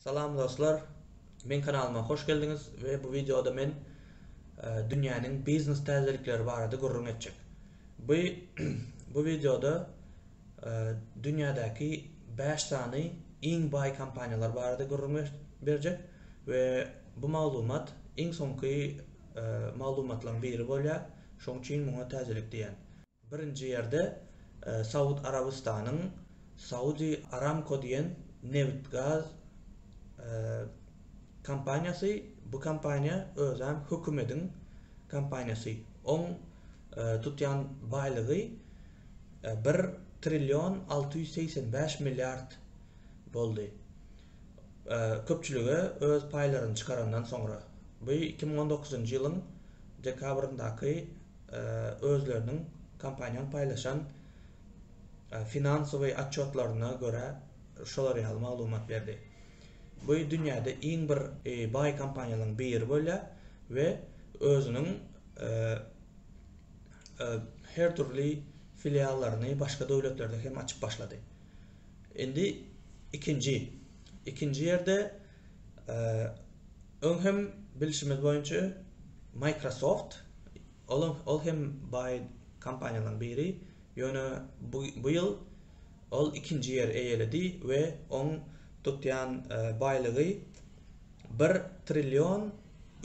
Salam dostlar! Meň kanalyma hoş geldiňiz we bu wideoda men dünýäniň biznes täzelikleri barada gürrüň etjek. Bu bu wideoda dünýädäki bäş sany iň baý kompaniýalar barada gürrüň berjek we bu maglumat iň soňky maglumatlaryň biri bolýar, şoň üçin muňa täzelik diýýän. Birinji ýerde Saud Arabystanyň Saudi Aramco diýen nebit-gaz kompaniýasy, bu kompaniýa özem hökümediň kompaniýasy. Oň tutýan baýlygy bir trillion alty ýüz segsen bäş milliard boldy. Köpçülige öz paýlaryny çykarandan soňra. Bu iki müň on dokuzynjy ýylyň dekabryndaky Özleriniň kompaniýanyň paýlaşan finansowy otçotlaryna görä şolar ýaly maglumat berdi. Bu dünýäde iň bir baý kompaniýalaryň biri bolýar we özüniň her dürli filiallaryny başga döwletlerde hem açyp başlady. Indi ikinji ikinji ýerde Öň hem bilşimiz boýunça Microsoft ol hem baý kompaniýalaryň biri, ýöne bu ýyl ol ikinji ýeri eýeledi we oň tutýan baýlygy bir trillion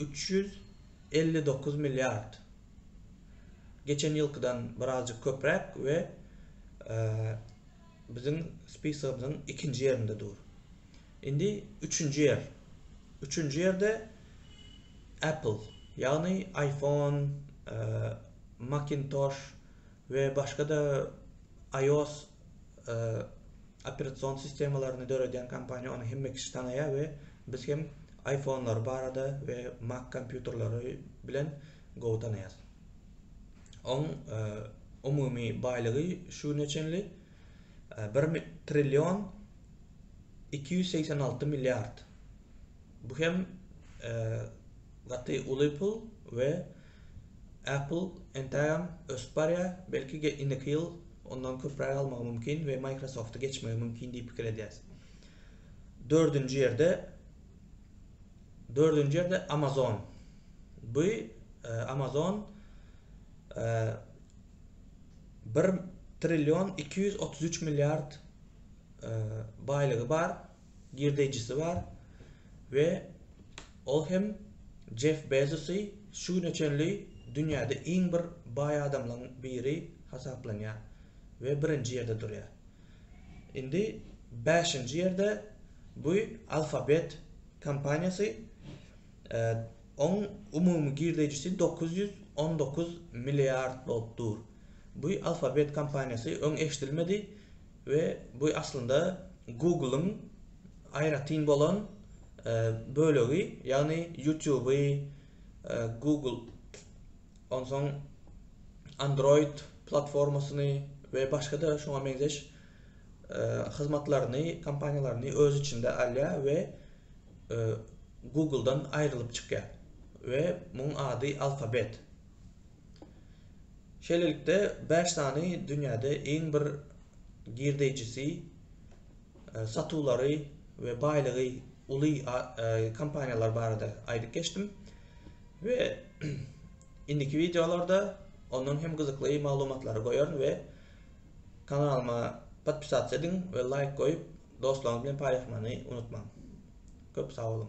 üç ýüz elli dokuz milliard, geçen ýylkydan birazjyk köpräk we Biziň spisogymyzyň ikinji ýerinde dur. Indi üçünji ýer. Üçünji ýerde Apple, ýagny iPhone, Macintosh we başga-da iOS operasion sistemalaryny döredýän kompaniýa, ony hemme kişi tanaýar we biz hem iPhone-lar barada we Mac kompýuterleri bilen gowy tanaýarys. Oň umumy baýlygy şu güne çenli bir trillion iki ýüz segsen alty milliard. Bu hem gaty uly pul we Apple entägem ösüp barýar, belki indiki ýyl ondan köpräk almagy mümkin we Microsoft-y geçmegi mümkin diýip pikir edýäs. Dördünji ýerde Dördünji ýerde Amazon. Bu Amazon bir trillion iki ýüz otuz üç milliard baýlygy bar, girdeýjisi bar we ol hem Jeff Bezosy şu güne çenli dünýäde iň bir baý adamlaryň biri hasaplanýar we birinji ýerde durýar. Indi bäşinji ýerde bu Alphabet kompaniýasy, oň umumy girdeýjisi dokuz ýüz on dokuz milliard bolup dur. Bu Alphabet kompaniýasy öň eşidilmedi we bu aslynda Google-yň aýratyn bolan bölegi, ýagny YouTube-y, Google Onsoň Android platformasyny we başga-da şuňa meňzeş hyzmatlaryny, kompaniýalaryny öz içinde alýar we Google-dan aýrylyp çykýar we muň ady Alphabet. Şeýlelikde bäş sany dünýäde iň bir girdeýjisi satuwlary we baýlygy uly kompaniýalar barada aýdyp geçdim we indiki wideolarda ondan hem gyzykly maglumatlary goýaryn we kanalyma podpisatsa ediň we laýk goýup dostlaryňyz bilen paýlaşmany unutmaň. Köp sag boluň.